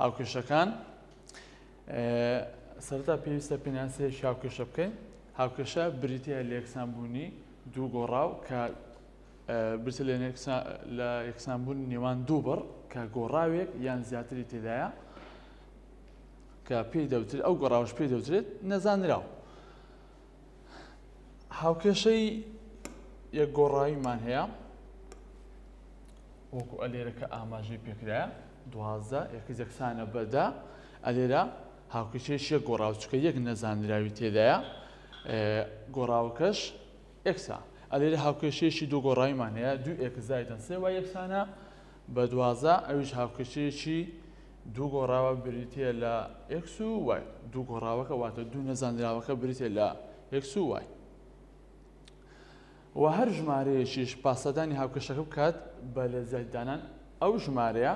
هاوکێشەکان، سەرەتا پێویستە پێناسەیەکی هاوکێشە بکەین. هاوکێشە بریتییە لە یەکسانبوونی دوو گۆڕاو کە برسە لە یەکسانبوون نێوان دوو بڕ کە گۆڕاوێک یان زیاتری تێدایە کە پێی دەوترێت ئەو گۆڕاوش پێی دەوترێت نەزانراو. هاوکێشەی یەک گۆڕاویمان هەیە وەکو ئەلێرەکە ئاماژەی پێکرایە دوازدە یەکە یەکسانە بەدا ئەلێرە هاوکێشەیەش یەک گۆڕاو چکە یەک نەزانراوی تێدایە گۆڕاوەکەش ئەکسا ئەلێرە هاوکێشەیەشی دوو گۆڕایمان هەیە دوو ئێکزایدن سێ وای یەکسانە بە دوازە ئەویش هاوکێشەیەکی دوو گۆڕاوە بریتییە لە ئێکس و وای دوو گۆڕاوەکە واتە دوو نەزانراوەکە بریتە لە ئێکس و وای و هەر ژمارەیەکیش پاسەدانی هاوکێشەکە بکات بە لە زیاددانان ئەو ژمارەیە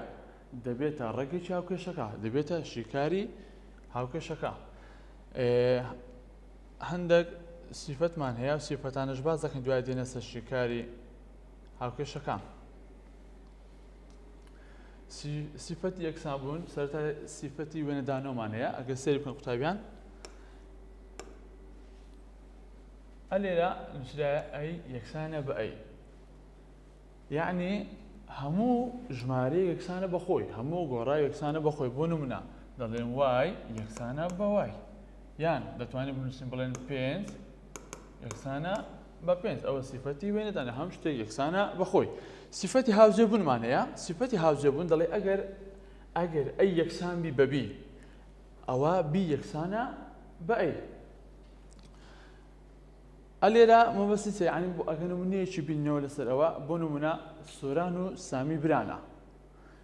دەبێتە ڕێگەی هاوکێشەکە دەبێتە شیکاری هاوکێشەکە هەندێک سیفەتمان هەیە سیفەتانش باز دەکەن دوای دێنە سەر شیکاری هاوکێشەکان سیفەتی یەکسانبوون سەرتا سیفەتی وێنەدانەوەمان هەیە ئەگە سێری بکەن قوتابیان ئەلێرە نووسرا ئەی یەکسانە بە ئەی یعنی هەموو ژمارە یەکسانە بەخۆی هەموو گۆڕا یەکسانە بەخۆی بۆ نمونە دەڵێن وای یەکسانە بەوای یان دەتوانین بنووسین بڵێن پێنج یەکسانە بە پێنج ئەوە سیفەتی وێنەدانە هەم شتێک یەکسانە بەخۆی سیفەتی هاوجێبوونمان هەیە سیفەتی هاوجێبوون دەڵێ ئەگەر ئەگەر ئەی یەکسان بی بەبی ئەوە بی یەکسانە بە ئەی ئەلێرا مەبەستی سەیعانی بۆ ئەگەنمونەیەکی بینەوە لەسەر ئەوە بۆ نمونە سۆران و سامی برانە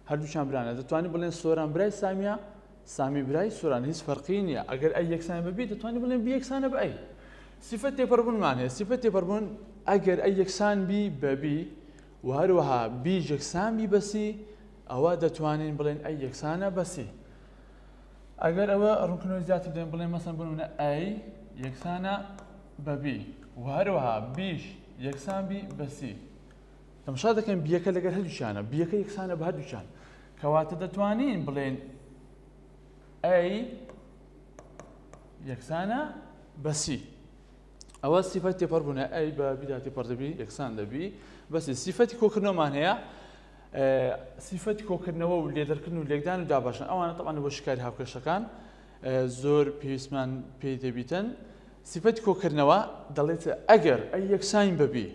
هەردووکیان برانە دەتوانین بڵێن سۆران برای سامیە سامی برای سۆران هیچ فەرقی نییە ئەگەر ئەی یەکسان بەبی دەتوانین بڵێن بی یەکسانە بە ئەی سیفەت تێپەڕبوونمان هەیە سیفەت تێپەڕبوون ئەگەر ئەی یەکسان بی بەبی و هەروەها بی یەکسان بی بەسی ئەوە دەتوانین بڵێن ئەی یەکسانە بەسی ئەگەر ئەوە ڕوونکردنەوەی زیاتر دێن بڵێن مەسەن بنە ئەی یەکسانە بەبی و هەروەها بیش یەکسان بی بەسی تەمشا دەکەین بیەکە لەگەر هەردووچانە بیەکە یەکسانە بە هەردووچان کەواتە دەتوانین بڵێن ئەی یەکسانە بەسی ئەوە سیفەت تێپەر بوونە ئەی بە بیدا تێپەر دەبی یەکسان دەبی بەسی سیفەتی کۆکردنەوەمان هەیە سیفەتی کۆکردنەوە و لێدەرکردن و لێکدان و داباشن ئەوانە تەوان بۆ شکاری هاوکێشەکان زۆر پێویستمان پێی دەبیتن سیفەتی کۆکردنەوە دەڵێت ئەگەر ئەی یەکسانی بەبی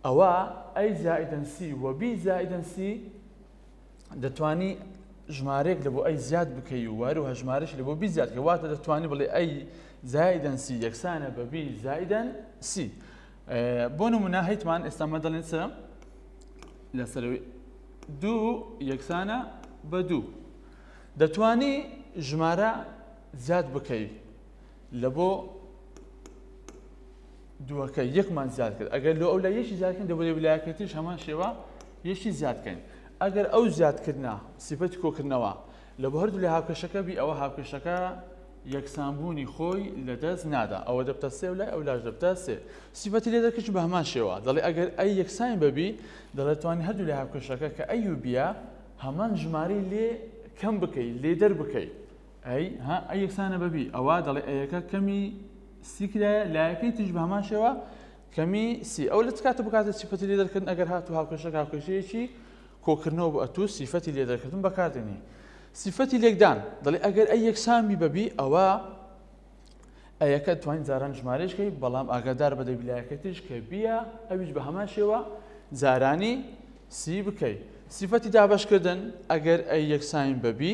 ئەوا A زائیدەن C و B زائیدەن C دەتوانی ژمارەیەک لە بۆ ئەی زیاد بکەی و واروها ژمارەش لە بۆ بی زیاد کە واتە دەتوانی بڵێ ئەی زایدەن سی یەکسانە بە بی زایدەن سی بۆ نمونە هەیتمان ئێستامە دەڵێن چە لەسەرەوەی دوو یەکسانە بە دوو دەتوانی ژمارە زیاد بکەی لە بۆ دووەکە یەکمان زیاد کرد ئەگەر لۆ ئەو لە یەکی زیادکەن دەبێت ویلایەکە تریش هەمان شێوە یەکی زیادکەین ئەگەر ئەو زیادکردە سیفەتی کۆکردنەوە لە بۆ هەردوو لە هاوکێشەکە بی ئەوە هاوکێشەکە یەکسانبوونی خۆی لە دەست نادا ئەوە دەبتە سێ لای ئەو لاش دەبتە سێ سیفەتی لێ دەکەش بە هەمان شێوە دەڵێ ئەگەر ئەی یەکسان بەبی دەڵێتوانی هەردوو لە هاوکێشەکە کە ئەی و بیە هەمان ژماری لێ کەم بکەیت لێ دەر بکەیت ئەی، ها، ئەی یەکسانە بە بی، ئەوا دەڵێ ئەیەکە کەمی سی کرایە، لایەکەی تریش بە هەمان شێوە کەمی سی. ئەو لە چ کاتێک بۆ کاتێک سیفەتی لێدەرکردن ئەگەر هاتوو هاوکێشەکە هاوکێشەیەکی کۆکردنەوە بوو ئەتوو سیفەتی لێدەرکردن بەکاردێنی. سیفەتی لێکدان دەڵێ ئەگەر ئەی یەکسان بی بە بی ئەوە ئەیەکە توانین جاران ژمارەشکەی بەڵام ئاگادار بە دەبیلایەکە تریش کە بیە ئەویش بە هەمان شێوە جارانی سی بکەیت. سیفەتی دابەشکردن ئەگەر ئەی یەکسان بە بی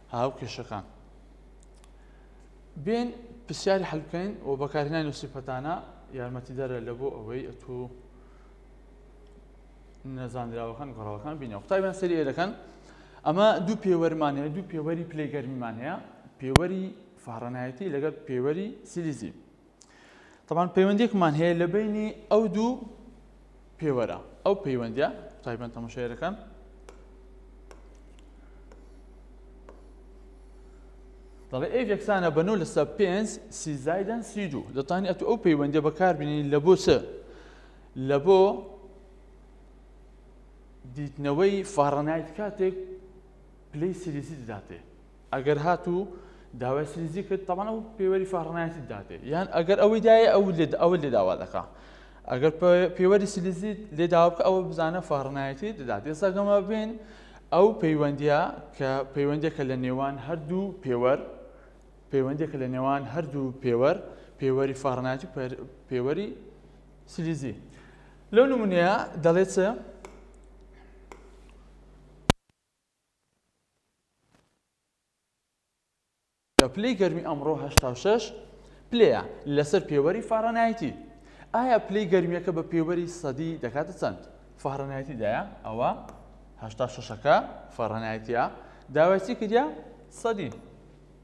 هاو کێشەکان بێن پرسیاری حلکەین و بەکارهێنانی و سیفەتانە یارمەتیدەرە لە بۆ ئەوەی ئەتو نەزانراوەکان گەڕاوەکان بینە قوتابیان سەری ئێرەکەن ئەمە دوو پێوەرمان هەیە دوو پێوەری پلەی گەرمیمان هەیە پێوەری فارەنایەتی لەگەر پێوەری سیلیزی تەبان پەیوەندێکمان هەیە لە بینی ئەو دوو پێوەرە ئەو پەیوەندە تایبەن تەمەشارەکان دەڵێ ئەو یەکسانە بەنەوە لەسەر پێنج سیزایدەن سی دوو دەتانی ئەتو ئەو پەیوەندە بەکاربیین لە بۆ چ لە بۆ دیتنەوەی فارەنایت کاتێک پلی سریسی دەداتێ ئەگەر هات و داوای سریزی کرد تەمان ئەو پێوەری فەڕنایەتی دادێ یان ئەگەر ئەوەی دایە ئەو لێ ئەوە لێ داوا دەکا ئەگەر پێوەری سلیزی لێ داوکە ئەوە بزانە فەڕنایەتی دەدات ئێساگەمە بین ئەو پەیوەندیە کە پەیوەندێکە لە نێوان هەردوو پێوەەر پەیوەندێکە لە نێوان هەردوو پێوەەر پێوەری فارناتی پێوەری سلیزی لەو نمونەیە دەڵێتە پلەی گەرمی ئەمڕۆ هەشتا و شەش پلەیە لەسەر پێوەری فاڕەنایتی ئایا پلەی گەرمیەکە بە پێوەری سەدی دەکاتە چەند فاڕەنایتیدایە ئەوە هەشتا شەشەکە فاڕەنایتە داوایسی کردە سەدی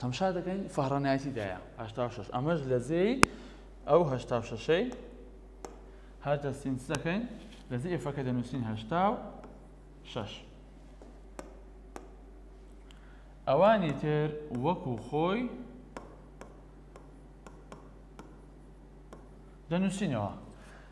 تەمشا دەکەین فەهرەنایەتی دایە هەشتا و شەش ئەمەش لە جێی ئەو هەشتا و شەشەی هەر دەستین چ دەکەین لە جێ ئێفەکە دەنووسین هەشتا و شەش ئەوانی تر وەکو خۆی دەنووسینەوە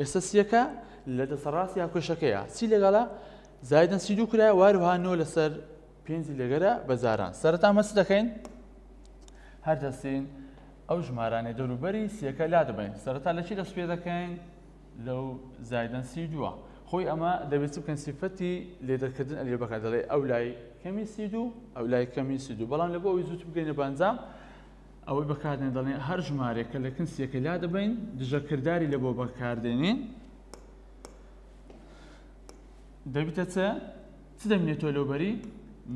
ئێستا سیەکە لە دەسەڕاست یا کێشەکەیە سی لەگەڵە زایدن سی دوو کرای واروها نۆ لەسەر پێنجی لەگەرە بە جاران سەرتا مەس دەکەین هەر دەستین ئەو ژمارانەی دەوروبەری سیەکە لا دەبین سەرتا لە چی دەست پێ دەکەین لەو زایدن سی دووە خۆی ئەمە دەبێت بکەن سیفەتی لێدەکردن ئەلێ بەکە دەڵێ ئەو لای کەمی سی دوو ئەو لای کەمی سی دوو بەڵام لە بۆ ئەوی زووت بگەینە بەنجام ئەوەی بەکاردێن دەڵێن هەر ژمارێکە لە کن سیەکە لا دەبین دژە کردداری لە بۆ بەکاردێنین دەبیتە چە چ دەمێتۆ لەوبەری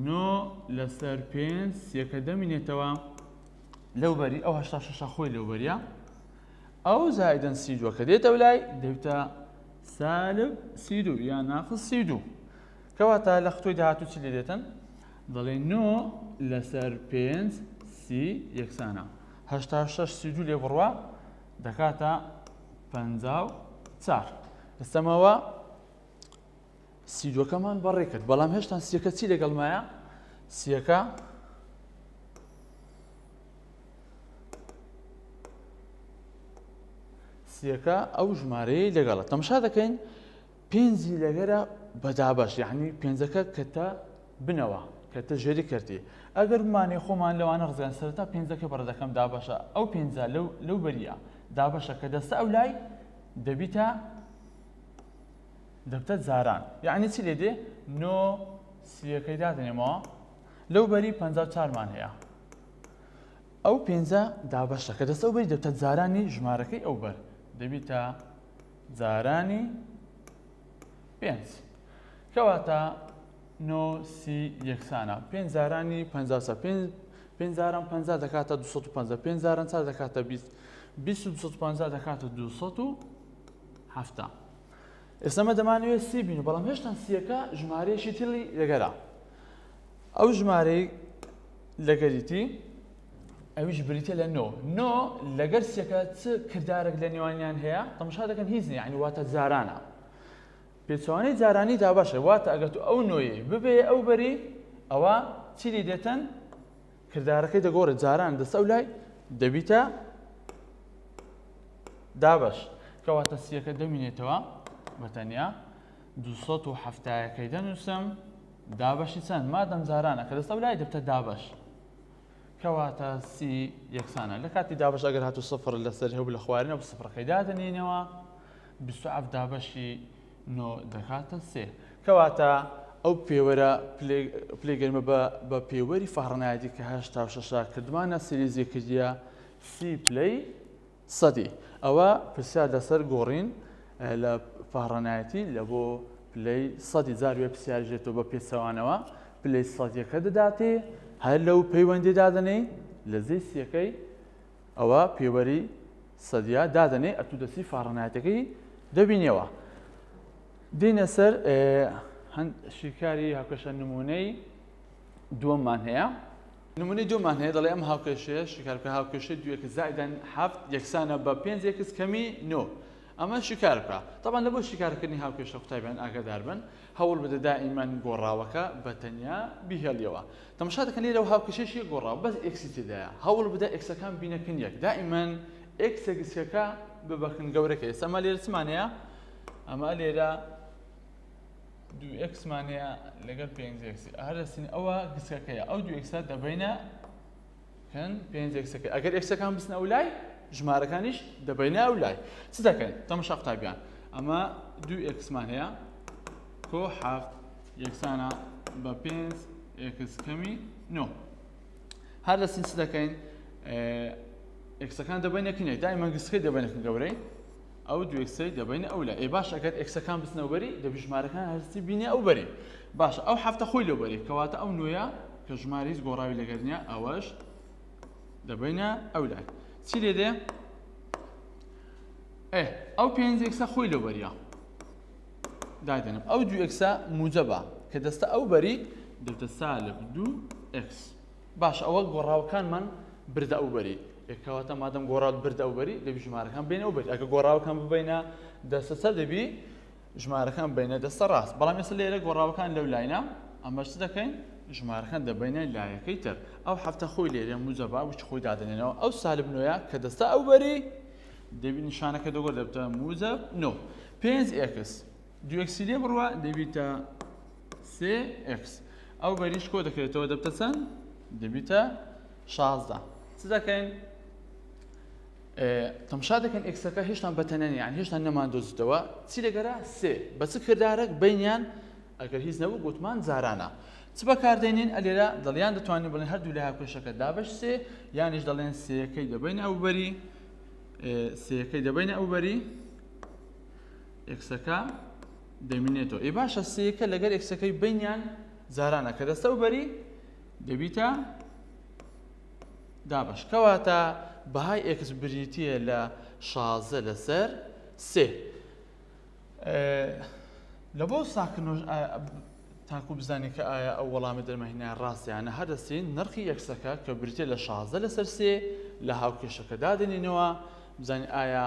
نۆ لەسەر پێنج سیەکە دەمینێتەوە لەوبەری ئەو هشتا شەشە خۆی لەوبەریە ئەو زایدن سی دووە کە دێتە لای دەبتە سالب سی دوو یا ناقل سی دوو کەواتە لە خۆی داهاتوو چ لێ دێتن دەڵێی نۆ لەسەر پێنج سی یەکسانە هەشتا شەش سی دوو لێ بڕوا دەکاتە پەنجا و چار ئێستەمەوە سیدوەکەمان بەڕێ کرد بەڵام هێشتان سیەکە چی لەگەڵ مایە سیەکە سیەکە ئەو ژمارەیە لەگەڵە تەمشا دەکەین پێنجی لەگەرە بە دابەش یەعنی پێنجەکە کەتە بنەوە کەتە ژێری کەرتی ئەگەر بمانێ خۆمان لەوانە ڕزگان سەرتا پێنجەکە بەڕدەکەم دابەشە ئەو پێنجا لەو لەو بەریە دابەشە کە دەستە ئەو لای دەبیتە دەبتە جاران یعنی چی لێ دێ نۆ سیەکەی دادنێمەوە لەو بەری پ چارمان هەیە ئەو پێنجە دابەشە کە دەستە بەری دەبتە جارانی ژمارەکەی ئەو بەر دەبیتە جارانی پێنج کەواتە نۆ سی یەکسانە پێنج جارانی پ پێنج پێنج جاران پ دەکاتە 250 پێنج جاران چا دەکاتە 20 250 دەکاتە 270 ئێسمە دەمانوێت سی بین بەڵام هێشتا سیەکە ژمارەیەکی تری لەگەرا ئەو ژمارەی لەگەریتی ئەویش بریتیە لە نۆ نۆ لەگەر سێکە چ کردارێک لە نێوانیان هەیە تەمشا دەکەن هیچ نیە ینی واتە جارانە پێچوانەی جارانی دا باشە واتە ئەگەر تو ئەو نۆیە ببێ ئەو بەری ئەوە چی لێ دێتن کردارەکەی دەگۆڕێت جاران دەسە و لای دەبیتە دابش کەواتە سیەکە دەمینێتەوە بەتەنیا 1970ەکەی دەنووسم دابەشی چەند مادەم جارانە کە دەسە و لای دەبتە دابش کەواتە سی یەکسانە لە کاتی دابش ئەگەر هاتو سفر لەسەر هەبوو لە خوارێنە بە سفرەکەی دادەنینەوە بیست و حەفت دابەشی نۆ دەکاتە سێ کەواتە ئەو پێوەرە پلەی گەرمە بە پێوەری فەهڕنایەتی کە هەشتا و شەشە کردمانە سیریزی کردە سی پلەی سەدی ئەوە پرسیار لەسەر گۆڕین لە پاڕانایەتی لە بۆ پلەی سەدی جار وێ پرسیاریش دێتەوە بە پێچەوانەوە پلەی سەدیەکە دەداتێ هەر لەو پەیوەندی دادەنێی لە جێی سیەکەی ئەوە پێوەری سەدیا دادەنێ ئەتو دەسی فاڕنایەتەکەی دەبینەوە دینە سەر هەند شیکاری هاکەشە نمونەی دووەممان هەیە نمونەی دوومان هەیە دەڵێ ئەم هاوکێشەیە شیکار بکە هاوکێشەی دوو ئێکس زائیدەن هەفت یەکسانە بە پێنج ئێکس کەمی نۆ ئەمە شیکار بکە تەبان لە بۆ شیکارکردنی هاوکێشە قوتابیان ئاگادار بن هەوڵ بدە دائیمەن گۆڕاوەکە بە تەنیا بیهێڵیەوە تەماشا دەکەن لێرە و هاوکێشەشی گۆڕاو بەس ئێکسی تێدایە هەوڵ بدە ئێکسەکان بینەکن یەک دائیمەن ئێکسە گسکەکە ببەکن گەورەکە ئێستا ئەمە لێرە چمانەیە ئەمە لێرە دوو ئێکسمان هەیە لەگەر پێنج ئێکسی ئەهە دەستین ئەوە گسکەکەیە ئەو دوو ئێکسە دەبینە کەن پێنج ئێکسەکە ئەگەر ئێکسەکان بسنە ئەو لای ژمارەکانیش دەبینە ئەو لای چ دەکەن تەمەشا قوتابیان ئەمە دوو ئێکسمان هەیە کۆ حەفت یەکسانە بە پێنج ئێکس کەمی نۆ هەر دەستین چ دەکەین ئێکسەکان دەبینە کنێک دایمە گسکەی دەبینەکە گەورەی ئەو دوو ئێکسەی دەبەینە ئەو لای ئەی باشە ئەگەر ئێکسەکان بچنە ئەو بەری دەبی ژمارەکان هەرسی بینێ ئەو بەری باشە ئەو هەفتە خۆی لەو بەری کەواتە ئەو نوێیە کە ژماری هیچ گۆڕاوی لەگەر نیە ئەوەش دەبەینە ئەو لای چی لێ دێ ئێ ئەو پێنج ئێکسە خۆی لەو بەریە دادێنم ئەو دوو ئێکسە موجەبە کە دەستە ئەو بەری دەتە سالب دوو ئێکس باشە ئەوە گۆڕاوەکانمان بردە ئەو بەری ئێ کەواتە مادەم گۆڕاوت بردە ئەو بەری دەبی ژمارەکان ببەینە ئەو بەری ئەگە گۆڕاوەکان ببەینە دەستە چەپ دەبی ژمارەکان ببەینە دەستە ڕاست بەڵام ئێستا لێرە گۆڕاوەکان لەو لاینە ئەمەش چ دەکەین ژمارەکان دەبەینە لایەکەی تر ئەو هەفتە خۆی لێرە موجەبا وچ خۆی دادەنێنەوە ئەو سالب نوێیە کە دەستە ئەو بەری دەبی نیشانەکە دەگۆ دەبتە موجەب نۆ پێنج ئێکس دووئێکسی لێ بڕە دەبیتە سێ ئێکس ئەو بەریش کۆ دەکرێتەوە دەبتە چەند دەبیتە شازدە چ دەکەین تەمشا دەکەن ئێکسەکە هێشتان بەتەنێن یان هێشتان نەمان دۆزیتەوە چی دەگەرا سێ بە چ کردارێک بینیان ئەگەر هیچ نەبوو گوتمان زارانە چ بەکاردێنین ئەلێرا دڵیان دەتوانین بڵێن هەردوو لە هاکوێشەکە دابش سێ یانیش دەڵێن سێەکەی دەبین ئەو بەری سێەکەی دەبین ئەو بەری ئێکسەکە دەمینێتەوە ئێ باشە سێکە لەگەر ئێکسەکەی بینیان جارانە کە دەستە و بەری دەبیتە دابش کەواتە بەهای ئێکس بریتە لە شازە لەسەر سێ لە بۆ ساکنۆژ تاکو بزانانی کە ئایا ئەو وەڵامی دەرمەهینە ڕاستیانە هەدەستین نرخی یەکسەکە کە بریتە لە شازە لەسەر سێ لە هاوکێشەکە دادێنینەوە بزانین ئایا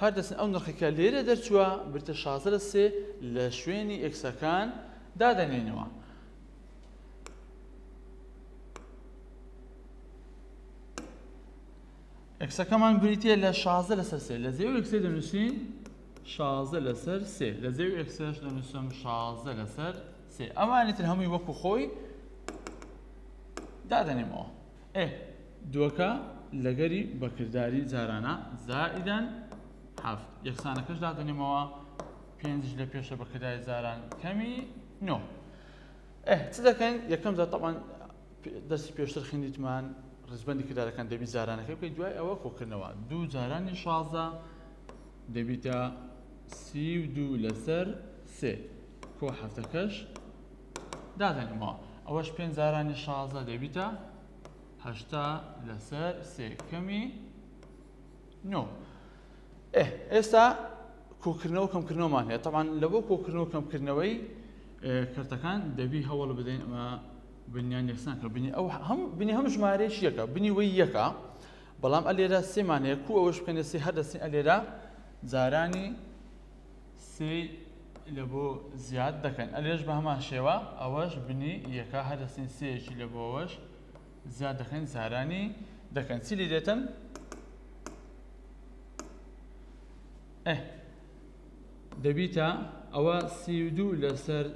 هەر دەچن ئەو نرخەی کە لێرە دەرچووە بریتە شازدە لە سێ لە شوێنی ئێکسەکان دادەنێنەوە. ئەکسەکەمان بریتە لە شازە لەسەر سێ لە زێو ئەکسێ دەنووسین شازە لەسەر سێ لە زێو ئەکسش دەنووسم شازە لەسەر سێ ئەمانی تر هەمووی وەکو خۆی دادەنێمەوە ئێ دووەکە لەگەری بەکرداری جارانە زائیدەن هەفت یەکسانەکەش دادەنێمەوە پێنجش لە پێشە بەکرداری جاران کەمی نۆ ئێ چ دەکەین یەکەم جار تەبان دەستی پێشتر خیندیتمان ڕزبەندی کردارەکان دەبی جارانەکەی بکەیت دوای ئەوە کۆکردنەوە دوو جارانی شازە دەبیتە سی و دوو لەسەر سێ کۆ حەفتەکەش دادەنێمەوە ئەوەش پێنج جارانی شازدە دەبیتە هەشتا لەسەر سێ کەمی نۆ ئێستا کۆکردنەوە کەمکردنەوەمان هەیە تەوان لە بۆ کۆکردنەوە کەمکردنەوەی کەرتەکان دەبی هەوڵ بدەین ئەمە بنیان یەکسان کە بنی ئەو هەم بنی هەم ژمارەیەش یەکە بنی وەی یەکە بەڵام ئەلێرە سێمان هەیە کو ئەوەش بکەنە سێ هەر دەستی ئەلێرە جارانی سێی لە بۆ زیاد دەکەن ئەلێش بە هەمان شێوە ئەوەش بنی یەکە هەر دەستین سێیەکی لە بۆ ئەوەش زیاد دەکەین زارانی دەکەن چی لی دێتن دەبیتە ئەوە سی و دوو لەسەر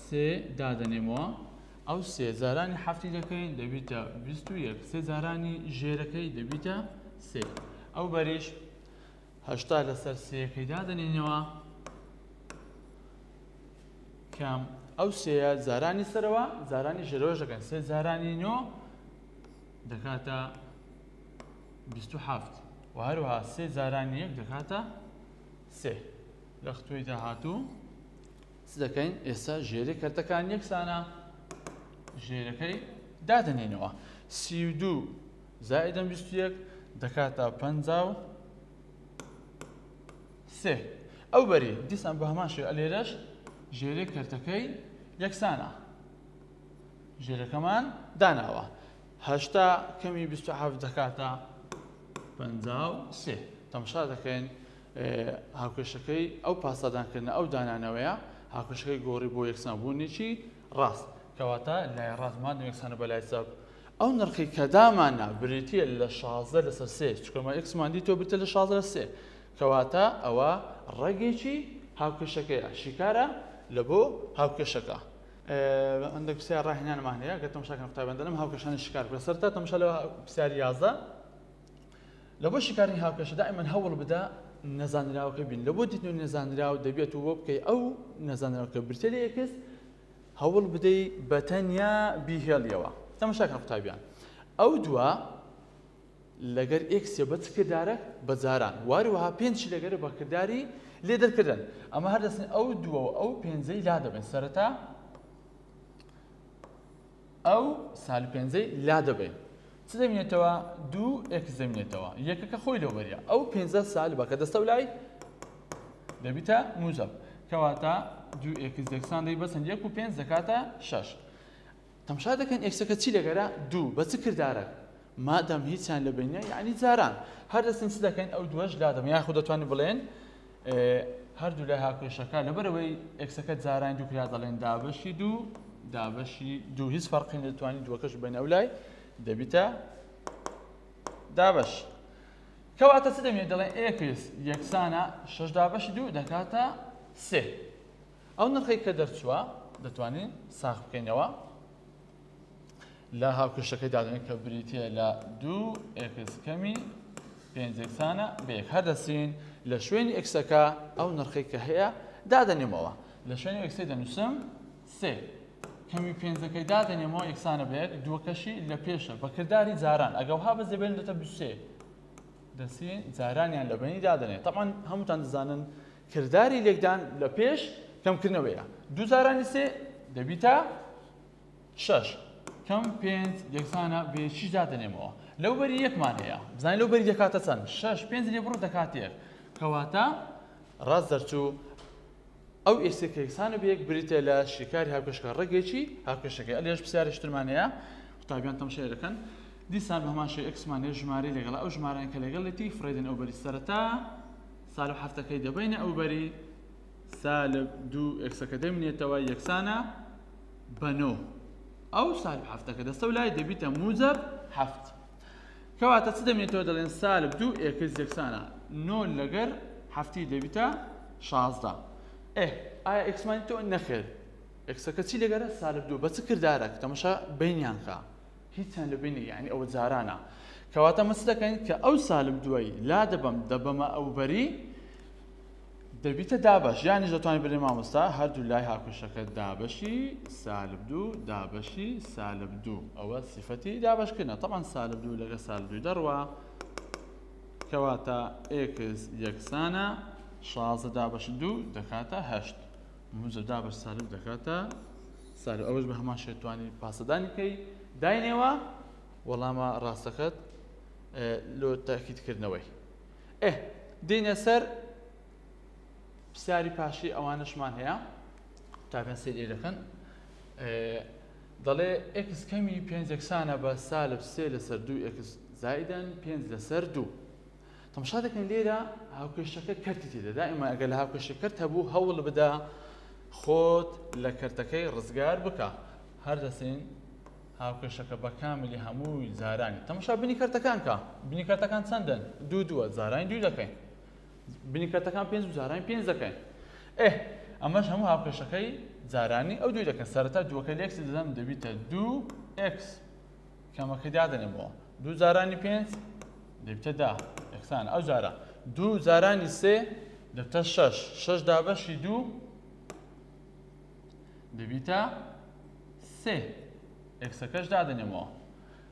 سێ دادەنێمەوە ئەو سێ جارانی حەفتی دەکەین دەبیتە بیست و یەک سێ جارانی ژێرەکەی دەبیتە سێ ئەو بەریش هەشتا لەسەر سێیەکەی دادەنێینەوە کە ئەو سێە جارانی سەرەوە جارانی ژێرەوە دەکەن سێ جارانی نۆ دەکاتە هەفت و هەروها سێ جارانی یەک دەکاتە سێ لە ختوی داهاتوو چ دەکەین ئێستا ژێری کردەکان یەکسانە ژێرەکەی دادنێنەوە سی و دوو زائیدەن بیست و یەک دەکاتە پەنجا و سێ ئەو بەری دیسان بە هەمان شێ ئەلێرەش ژێرێ کەرتەکەی یەکسانە ژێرەکەمان داناوە هەشتا کەمی بیست و حەفت دەکاتە پەنجا و سێ تەمشا دەکەین هاوکێشەکەی ئەو پاسادانکردنە ئەو دانانەوەیە هاوکێشەکەی گۆڕی بۆ یەکسانبوونێکی ڕاست کەواتە لای ڕاستمان یەکسانە بە لای چاپ ئەو نرخەی کە داماننا بریتیە لە شازدە لەسەر سێ چونکە ئێمە ئێکسمان دیتوە بریتیە لە شازدە لەسەر سێ کەواتە ئەوە ڕەگێکی هاوکێشەکەیە شیکارە لە بۆ هاوکێشەکە هەندێک پرسیار ڕاهێنانمان هەیە گەر تەمشا کەم قوتابیان دەلم هاوکێشانی شیکار بکە سەر تا تەمشا لە پرسیار یازدە لە بۆ شیکارنی هاوکێشە دائیمەن هەوڵ بدە نەزانراوەکە بین لە بۆ دیتن و نەزانراو دەبێت و بۆ بکەی ئەو نەزانراوکە برتێ لە یەکس هەوڵ بدەی بە تەنیا بیهێڵیەوە تەماشا کە قوتابیان ئەو دووە لەگەر ئێکسێ بە چ کردارەک بە جاران واروەها پێنجی لەگەرە بە کرداری لێ دەرکردن ئەمە هەردەستن ئەو دووە و ئەو پێنجەی لا دەبن سەرەتا ئەو سالب پێنجەی لادەبەین چ دەمینێتەوە دوو ئێکس دەمینێتەوە یەکەکە خۆی لەو بەریە ئەو پێنجە سالبە کە دەستە و لای دەبیتە موجب کەواتە دوو ئێکس دەکسان دەی بەسن یەک و پێنج دەکاتە شەش تەمشا دەکەن ئێکسەکە چی لەگەرە دوو بە چ کردارە مادام هیچیان لە بین نیە یەعنی جاران هەر دەچین چ دەکەین ئەو دووەش لادەبەین یاخود دەتوانین بڵێین هەردوو لای هاوکێشەکە لەبەرەوەی ئێکسەکە جارانی دوو کرا دەڵێن دابەشی دوو دابەشی دوو هیچ فەرقی نەتوانین دووەکەش بین ئەو لای دەبیتە دابەش کەواتە چ دەمێت دەڵێن ئێکس یەکسانە شش دابەشی دوو دەکاتە سێ ئەو نرخی کە دەرچووە دەتوانین ساخ بکەینەوە لە هاوکێشەکەی دادنێت کە بریتە لە دوو ئێکس کەمی پێنج یەکسانە بە یەک هەر دەستین لە شوێنی ئێکسەکە ئەو نرخی کە هەیە دادەنێمەوە لە شوێنی ئێکسی دەنووسم سێ کەمی پێنجەکەی دادەنێمەوە یەکسانە بە یەک دووەکەشی لە پێشە بەکردداری جاران ئەگەوها بە زێبێن دەتە بسێ دەستین جارانیان لە بینی دادنێت تەمان هەمووتان دەزانن کردداری لێکدان لە پێش کەمکردنەوەیە دوو جارانی سێ دەبیتە شەش کەم پێنج یەکسانە بە یەکیش دادەنێمەوە لەو بەری یەکمان هەیە بزانین لەو بەری دەکاتە چەند شەش پێنج لێ بڕۆ دەکات یەک کەواتە ڕاست دەرچوو ئەو ئێسێک کە یەکسانە بە یەک بریتە لە شیکاری هاوکێشەکە ڕێگەیەکی هاوکێشەکەی ئەلێش پرسیارشترمان هەیە قوتابیان تەمشای دەکەن دیسان بە هەمان شێوەی ئەکسمان هەیە ژمارەی لەگەڵ ئەو ژمارەیان کە لەگەڵێتی فڕێدن ئەو بەری سەرەتا سالب حەفتەکەی دەبینە ئەو بەری سا لە دوو ئێکسەکە دەمینێتەوە یەکسانە بە نۆ ئەو سالب هەفتەکە دەستە و لای دەبیتە موجب هەفت کەواتە چ دەمێتەوە دەڵێن سالب دوو ئێکس یەکسانە نۆ لەگەر هەفتی دەبیتە شازدە ئێ ئایا ئێکسمانی تۆ نەخێر ئێکسەکە چی لەگەرە سالب دوو بە چ کردارەک تەمەشا بینیانکە هیچیان لە بینی یانی ئەوە جارانە کەواتە مەچ دەکەین کە ئەو سالم دوایی لا دەبم دەبەمە ئەوبەری دەبیتە دابش یانی دەتوانین بری مامۆستا هەردوو لای هاکوشەکە دابشی سالب دوو دابشی سالب دوو ئەوە سیفەتی دابشکردە تەمان سالب دوو لەگە سالدوی دەڕوە کەواتە ئێکس یەکسانە شازە دابش دوو دەکاتە هەشت موزە دابەش سالب دەکات تا سالب ئەوەش بە هەمان شێت توانی پاسەدانی بکەی داینێوە وەڵامە ڕاستەکەت لۆ تاکیدکردنەوەی ئێ دینە سەر پرسیاری پاشی ئەوانشمان هەیە تاکەن سێری دەکەن دەڵێ ئکس کەمی پێنج یەکسانە بە سالب سێ لەسەر دوو ئکس زایدەن پێنج لەسەر دوو تەمشا دەکەن لێرە هاوکێشەکە کەرتی تێدا دائما ئەگەر لە هاوکێشە کەرت هەبوو هەوڵ بدا خۆت لە کەرتەکەی ڕزگار بکە هەر دەسێن هاوکێشەکە بە کاملی هەمووی زارانی تەمشا بنی کەرتەکان کە بنی کەرتەکان چەندن دوو دووە زارانی دوو دەکەین بنی کەرتەکان پێنج و زارانی پێنج دەکەین ئێ ئەمەش هەموو هاوکێشەکەی زارانی ئەو دوو دەکەن سەرەتا دووەکە لێکس دەدەم دەبیتە دوو ئکس کەمەکەی دادەنێمەوە دوو جارانی پێنج دەبتە دا یەکسان ئەو جارە دوو جارانی سێ دەبتە شەش شەش دابەشی دوو دەبیتە سێ ئەکسەکەش دادەنێمەوە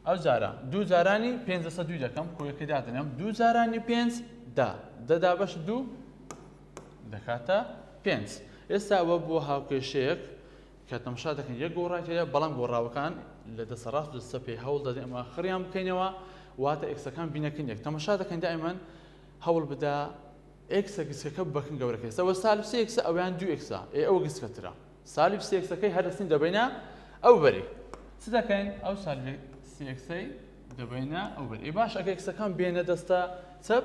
ئەو جارە دوو جارانی پێنج دەسە دوی دەکەم کۆیەکەی دادنێم دوو جارانی پێنج دا دەدا بەش دوو دەکاتە پێنج ئێستا ئەوە بۆ هاوکێشەیەک کە تەمشا دەکەن یەک گۆڕای تێدایە، بەڵام گۆڕاوەکان لە دەستە ڕاست و دەستە چەپ پێ هەوڵ دەدەین ئەمە خڕیان بکەینەوە، واتە ئێکسەکان بینەکن یەک. تەمەشا دەکەین دائیمەن هەوڵ بدە ئێکسە گسکەکە بەکن گەورەکە ئێستا وە سالب سێ ئێکسە ئەویان دوو ئێکسە ئێ ئەوە گسکەترە سالب سێ ئێکسەکەی هەر دەستین دەبەینە ئەو بەری چ دەکەین ئەو سالب سێ ئێکسەی دەبەینە ئەو بەری باش ئەگە ئێکسەکان بێنە دەستە چەپ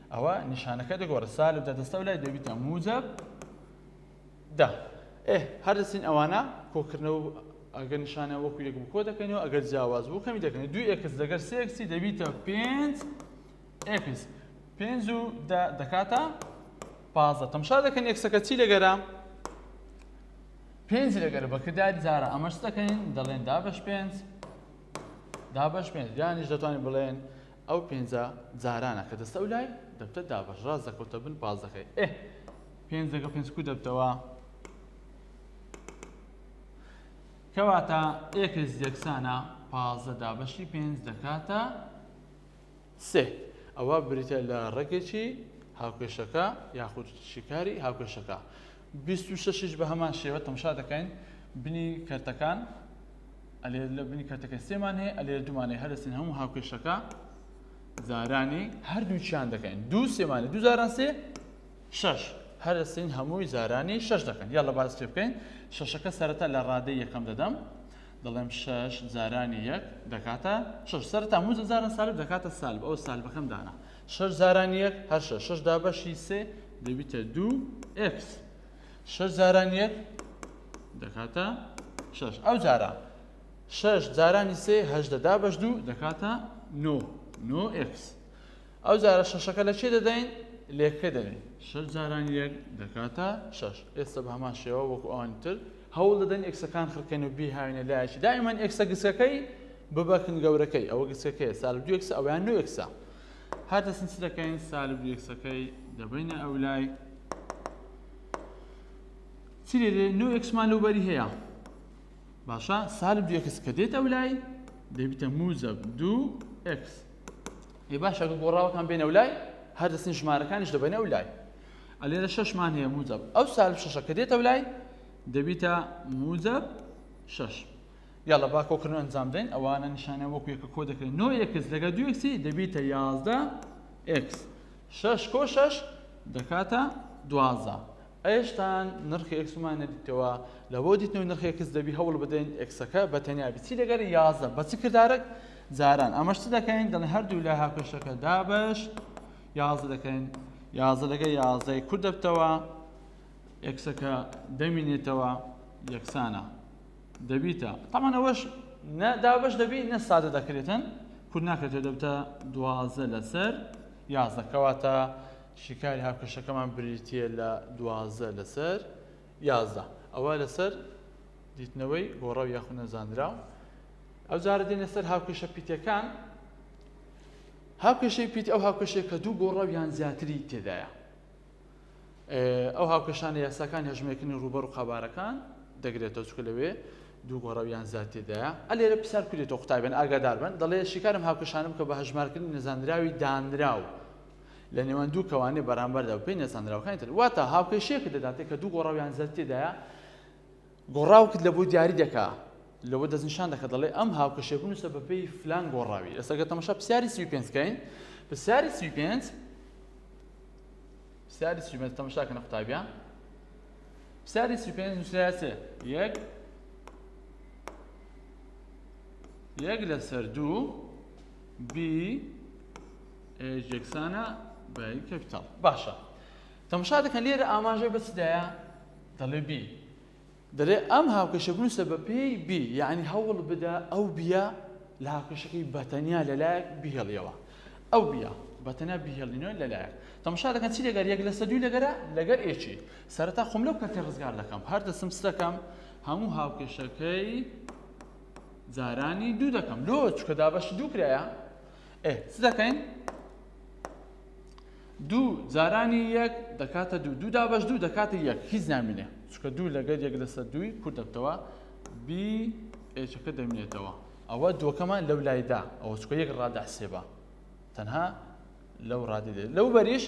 ئەوا نیشانەکە دەگۆڕێت سالب دە دەستە و لای دەبیتە موجب دە ئێ هەر دەچین ئەوانە کۆکردنەوە ئەگەر نیشانە وەکو یەک بوو کۆ دەکەینەوە ئەگەر جیاواز بوو کەمی دەکەین دوو ئێکس لەگەر سێ ئێکسی دەبیتە پێنج ئێکس پێنج و دە دەکاتە پازدە تەمشا دەکەن ئێکسەکە چی لەگەرە پێنج لەگەر بەکرداری جارە ئەمەش دەکەین دەڵێن دابش پێنج دابش پێنج یانیش دەتوانین بڵێن ئەو پێنجە جارانە کە دەستە و لای دەبتە دابەش ڕاست دەکەوتە بن پازدەکەی ئێ پێنج لەگەڵ پێنج کو دەبتەوە کەواتە ئێکس یەکسانە پازدە دابەشی پێنج دەکاتە سێ ئەوە بریتە لە ڕێکێکی هاوکێشەکە یاخود شیکاری هاوکێشەکە بیست و شەش یش بەهەمان شێوە تەمشا دەکەین بنی کەرتەکان ئەلێ لە بنی کەرتەکە سێمان هەیە ئەلێ دومانەی هەرسین هەموو هاوکێشەکە زارانی هەردووچیان دەکەین دوو سێمانی دوو زاران سێ شش هەرسین هەمووی زارانی شش دەکەن یا لە باز پێ بکەین شەشەکە سەرەتا لە ڕادەی یەکەم دەدەم دەڵێم شش زارانی یەک دەکاتە شش سەرتا موزە زارە سالب دەکاتە سالب ئەو سالبەکەم دانا شەش جاران یەک هەر شەش شەش دابەشی سێ دەبیتە دوو ئێکس شەش جاران یەک دەکاتە شەش ئەو جارە شەش جارانی سێ هەشدە دابەش دوو دەکاتە نۆ نۆ ئێکس ئەو جارە شەشەکە لە چێ دەدەین لێکە دەدەین شەش جاران یەک دەکاتە شەش ئێستا بە هەمان شێوە وەکو ئەوانی تر هەوڵ دەدەن ئێکسەکان خڕکەن و بیهاوینە لایەکی دائیمان ئێکسە گسەکەی ببەکن گەورەکەی ئەوە گسەکەی سال دوێکسە ئەویان نوێکسە هەر دەستن چ دەکەین سالب یەکسەکەی دەبینە ئەو لای چی دێ نو ئەکسمان لەو بەری هەیە باشە سالب یەکس کە دێت ئەو لای دەبیتە موزەب دوو ئەکس ێ باشە گۆڕاوەکان بێنە و لای هەر دەستن ژمارەکانیش دەبێنە و لای ئەلێرە شەشمان هەیە موزەب ئەو سالب شەشەکە دێتە و لای دەبیتە موزەب شەش یاڵڵە با کۆکردن ئەنجام بدەین ئەوانە نیشانیان وەکو یەکە کۆ دەکرێن نۆ ئێکس لەگەڵ دوو ئێکسی دەبیتە یازدە ئێکس شەش کۆ شەش دەکاتە دوازدە ئێشتان نرخی ئێکسمان نەدیتەوە لە بۆ دیتنەوەی نرخی ئێکس دەبی هەوڵ بدەین ئێکسەکە بە تەنیا بچی لەگەڵ یازدە بە چ کردارەک جاران ئەمەش چ دەکەین دەڵێن هەردوو لە هاپێشەکە دابش یازدە دەکەین یازدە لەگە یازدەی کورد دەبتەوە ئێکسەکە دەمینێتەوە یەکسانە دەبیتە تەمان ئەوەش نە دابش دەبی نە سادە دەکرێتن کورد ناکرێتەوە دەبتە دوازە لەسەر یازدە کەواتە شیکاری هاوکێشەکەمان بریتە لە دوازە لەسەر یازدە ئەوە لەسەر دیتنەوەی گۆڕە و یاخود نەزانرا و ئەو جارە دێنە سەر هاوکێشە پیتەکان هاوکێشەی پیت ئەو هاوکێشەیە کە دوو گۆڕە و یان زیاتری تێدایە ئەو هاوکێشانە یاساکانی هەژمێکردنی ڕووبەر و قەبارەکان دەگرێتەوە چکە لەوێ دوو گۆڕە یان زیاتێدایە ئە لێرە پرسیار کوێتەوە قوتابێن ئاگادار بن دەڵێ شیکارم هاوکێشانە بکە بە هەژمارکردنی نەزانراوی دانراو لە نێوان دوو کەوانێ بەرامبەردا پێی نەزانراوەکانی تر واتە هاوکێشەیەک دەداتێک کە دوو گۆڕاویان زیاتێدایە گۆڕاوکت لەبۆ دیاری دەکا لەوە دەست نیشان دەکە دەڵێ ئەم هاوکەشێ بنووسە بە پێی فلان گۆڕاوی ئێستا گە تەمەشا پرسیاری سی پێنج کەین پرسیاری سی پێنج پرسیاری سی پێنج تەمەشا کەنە قوتابیان پرسیاری سی پێنج نووسراە یەک یەک لەسەر دوو بی یەکسانە بە کەپیتال باشە تەمشا دەکەن لێرە ئاماژەی بە چ دایە دەڵێ بی دەلێ ئەم هاوکێشە بنووسە بە پێی بی یعنی هەوڵ بدە ئەو بیە لە هاوکێشەکەی بەتەنیا لەلایەک بهێڵیەوە ئەو بیە بەتەنیا بهێڵینەوە لەلایەک تەمشا دەکەن چی لەگەر یەک لەسە دوی لەگەرە لەگەر ئێچی سەرەتا خۆم لەو کەتی ڕزگار دەکەم هەر دەسم سەکەم هەموو هاوکێشەکەی جارانی دوو دەکەم لۆ چکە دابەش دوو کرایە ئێ چ دەکەین دوو جارانی یەک دەکاتە دوو دوو دابەش دوو دەکاتە یەک هیچ نامینێ چکە دوو لەگەر یەک لەسەر دووی کورت دەبتەوە بی ئێچەکە دەمینێتەوە ئەوە دووەکەمان لەو لایدا ئەوە چکە یەک ڕادە حسێبە تەنها لەو ڕادی دێت لەو بەریش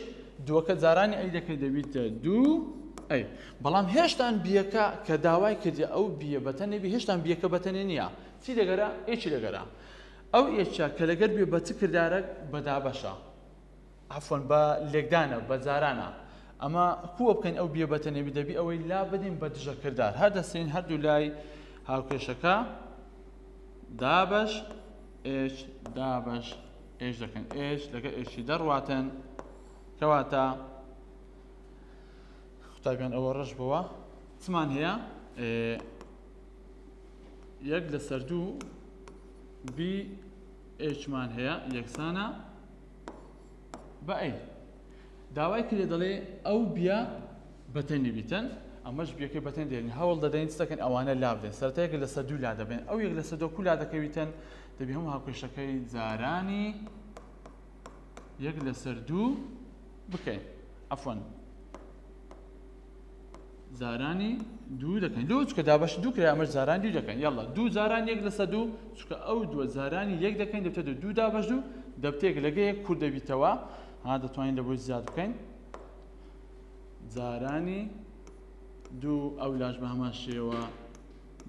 دووەکە جارانی ئەی دەکە دەبیتە دوو ئەی بەڵام هێشتان بیەکە کە داوای کردی ئەو بیە بەتەنێ بی هێشتان بیەکە بەتەنێ نییە چی دەگەرە ئێکی دەگەرە ئەو ئێچە کە لەگەر بێ بە چ کردارەک بەدابەشە عەفوەن بە لێکدانە بە جارانە ئەمە کووە بکەین ئەو بیە بەتە نەبی دەبی ئەوەی لا بدەین بە دژە کردار هەر دەسین هەردوو لای هاوکێشەکە دابش ئێش دابش ئێش دەکەن ئێش لەگە ئێشی دەڕواتن کەواتە قوتابیان ئەوە ڕەش بووە چمان هەیە یەک لەسەر دوو بی ئێشمان هەیە یەکسانە بە ئەی داوای کرێ دەڵێ ئەو بیا بەتەنی بیتن ئەمەش بیەکەی بەتەن دێنین هەوڵ دەدەین دەکەن ئەوانە لا بدەن سەرتەیەک لە سەر دوو لا دەبێن ئەو یەک لە سەر دۆ کولا دەکەویتن دەبی هەموو هاوکێشەکەی جارانی یەک لەسەر دوو بکەین ئەفۆن زارانی دوو دەکەین دوو چکە دابەش دوو کرا ئەمەش زاران دوو دەکەین یاڵا دوو زاران یەک لەسە دوو چکە ئەو دووە زارانی یەک دەکەین دەبتە دوو دوو دابەش دوو دەبتێک لەگەیەک کورد دەبیتەوە ها دەتوانین لە بۆی زیاد بکەین زارانی دوو ئەو لاش بە هەمان شێوە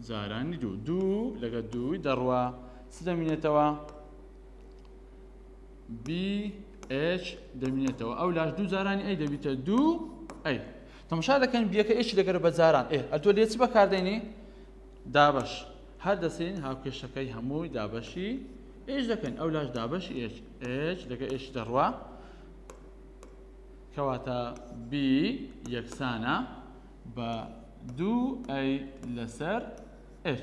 زارانی دوو دوو لەگە دووی دەڕوە چ دەمینێتەوە BH دەمینێتەوە ئەو لاش دوو جارانی ئەی دەبیتە دوو ئەی تەمشا دەکەن بیەکە ئێشی دەگەرە بە جاران ئێ ئەتۆ لێ چ بەکاردێنی دابش هەر دەسین هاوکێشەکەی هەمووی دابەشی ئێش دەکەن ئەو لاش دابش ئێش ئێش لەگە ئێش دەڕوا کەواتە بی یەکسانە بە دوو ئەی لەسەر ئێش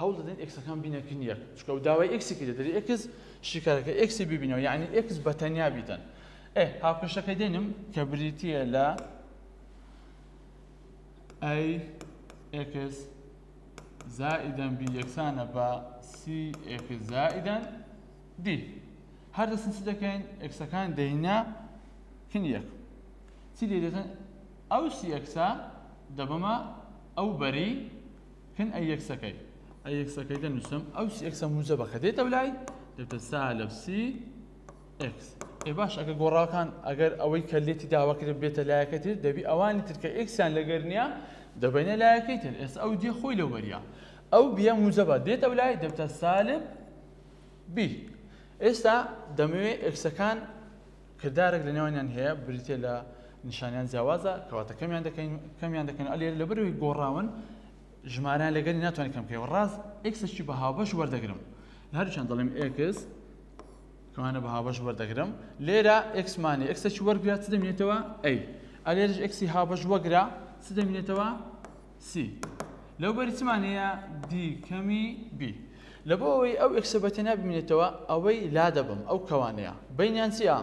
هەوڵ دەدەین ئێکسەکان بینەکن یەک چکە و داوای ئێکسی کرێت دەری ئێکس شیکارەکە ئێکسی ببینەوە یعنی ئێکس بە تەنیا بیتەن ئێ هاوکەشەکە دێنم کە بریتە لە ئەی ئێکس زائیدەن بی یەکسانە بە سی ئێکس زائیدەن دی هەر دەستن چ دەکەین ئێکسەکان دەینە کن یەک چی لێ دەتەن ئەو سی ئێکسە دەبەمە ئەو بەری کن ئەی یەکسەکەی ئەی یەکسەکەی دەنووسم ئەو یەکسە موجەبە کە دێتە لای دەبتە سالب سی ئکس ئێ باش ئەگە گۆڕاکان ئەگەر ئەوەی کە لێتی داواکرێت بێتە لایەکە تر دەبی ئەوانی تر کە ئکسیان لەگەر نییە دەبینە لایەکەی تر ئێستا ئەو دیێ خۆی لەو بەریە ئەو بیە موجەبە دێت ئەو لای دەبتە سالب بی ئێستا دەمەوێت ئکسەکان کردارێک لە نێوانیان هەیە بریتیە لە نیشانیان جیاوازە کەواتە کەمیان دەکەین کەمیان دەکەن ئەلێ لە بەرەوەی گۆڕاون ژمارەیان لەگەری ناتوانین کەم پێوە ڕاست ئکسشی بە هاوبەش وەردەگرم هەرچەند دەڵێم ئکس کەوانە بە هاوبەش وەردەگرم لێرە ئکسمانی ئکسشی وەرگرات دەمێتەوە ئەی ئەلێرش ئکسی هاوبەش وەگرە چ دەمێنێتەوە سی لەو بەری چمان هەیە دی کەمی بی لە بۆ ئەوەی ئەو ئکسە بە تەنیا ببینێتەوە ئەوەی لا دەبم ئەو کەوانەیە بینیان چییە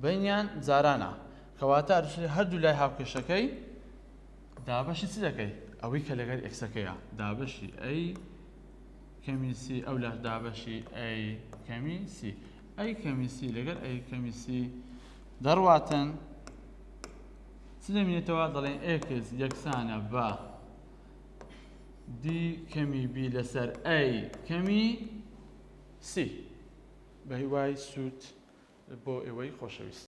بینیان جارانە کەواتە هەردوو لای هاوکێشەکەی دابەشی چ دەکەی ئەوەی کە لەگەر ئکسەکەیە دابەشی ئەی کەمی سی ئەو لە دابەشی ئەی کەمی سی ئەی کەمی سی لەگەر ئەی کەمی سی دەڕواتن چ دەمینێتەوە دەڵێن ئێکس یەکسانە بە دی کەمی بی لەسەر ئەی کەمی سی بە هیوای سوود بۆ ئێوەی خۆشەویست